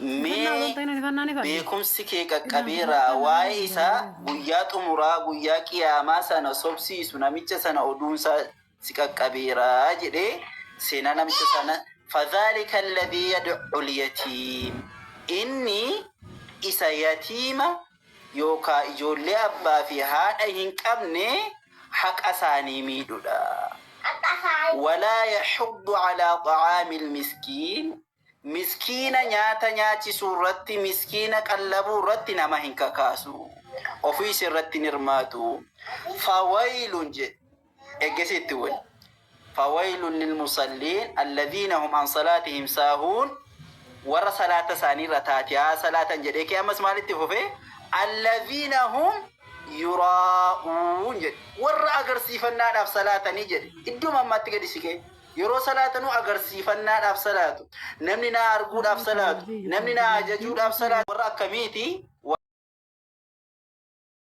Mee beekumsi kee qaqqabeera waa'ee isaa guyyaa xumuraa guyyaa qiyaamaa sana sobsiisu namicha sana oduun isaa si qaqqabeera jedhee seenaa namicha sana fadhaalika alladhii yad'ul yatiim inni isa yatiima yookaa ijoollee abbaa fi haadha hin qabne haqa isaanii miidhudha walaa yaxuddu calaa xacaamil miskiin Miskiina nyaata nyaachisuu irratti, miskiina qallabuu irratti nama hin kakaasu. Ofiis irratti hin hirmaatu. Fawaylun jedhe. Eeggasi itti wani. Fawaylun lilmusalliin alladhiina hum an salaatihim saahuun warra salaata isaanii irra taatiyaa salaatan jedhee kee ammas maalitti fufee alladhiina hum yuraa'uun jedhe. Warra agarsiifannaadhaaf salaatanii jedhe. Idduma ammaatti gadi siqee. Yeroo salaatanu agarsiifannaadhaaf salaatu. Namni na arguudhaaf salaatu. Namni na ajajuudhaaf salaatu. Warra akkamiiti?